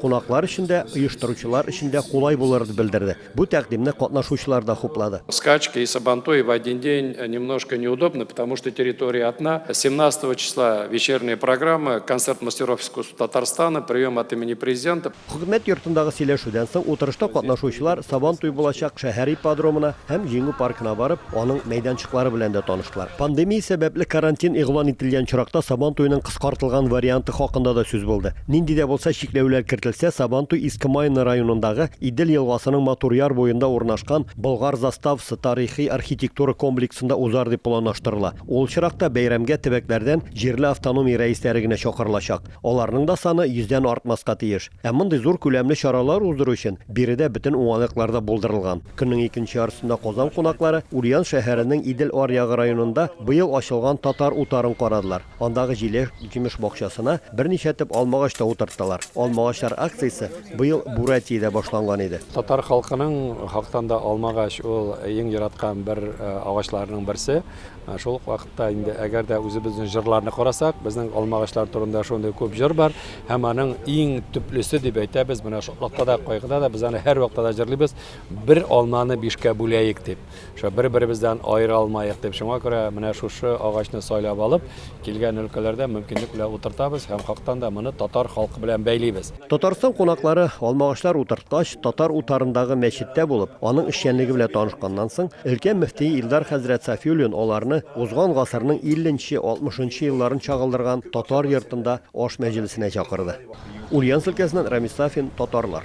Кунаклар өчен дә, оештыручылар өчен дә кулай булыр дип белдерде. Бу тәкъдимне катнашучылар да хуплады. Скачки и сабантуи в один день немножко неудобны, потому что территория одна. Семнадцатого числа вечерняя программа, концерт мастеров искусств Татарстана, прием от имени Президента. Хөкүмәт йортындагы сөйләшүдән соң утырышта катнашучылар Сабантуй булачак шәһәр ипподромына һәм Җиңү паркына барып, Аның мәйданчыклары белән дә таныштылар. Пандемия сәбәпле карантин игълан ителгән очракта Сабан туеның кыскартылган варианты хакында да сүз булды. Нинди дә булса чикләүләр кертелсә, Сабан туй Иске Майны районындагы Идел елгасының матур яр буенда урнашкан Болгар заставасы тарихи-архитектура комплексында узар дип планлаштырыла. Ул очракта бәйрәмгә төбәкләрдән җирле автономия рәисләре генә чакырылачак. Аларның да саны йөздән артмаска тиеш. Ә мондый зур күләмле чаралар уздыру өчен биредә бөтен уңайлыклар да булдырылган. Көннең икенче яртысында Казан кунаклары Ульян шәһәренең Идел аръягы районында быел ачылган Татар утарын карадылар. Андагы җиләк-җимеш бакчасына берничә төп алмагач та утырттылар. Алмагачлар акциясе быел Бурятиядә башланган иде. Татар халкының хактан да алмагач ул иң яраткан бер агачларының берсе. Ә шул ук вакытта инде әгәр дә үзебезнең җырларны карасак, безнең алмагачлар турында шундый күп җыр бар, һәм аның иң төплесе дип әйтәбез, менә шатлыкта да, кайгыда да без аны һәр вакытта да җырлыйбыз, бер алманы бишкә бүләек дип, шушы бер-беребездән аера алмаек дип. Шуңа күрә менә шушы агачны сайлап алып, килгән өлкәләрдә мөмкинлек белән утыртабыз һәм хактан да моны татар халкы белән бәйлибез. Татарстан кунаклары Алмагачлар утырткач, Татар утарындагы мәчеттә булып, аның эшчәнлеге белән танышканнан соң, өлкән мөфти Илдар хәзрәт Сафиуллин аларны узган гасырның 50 нче, 60 нчы елларын чагылдырган татар йортында аш мәҗлесенә чакырды. Ульяновск өлкәсеннән Рамис Сафин, Татарлар.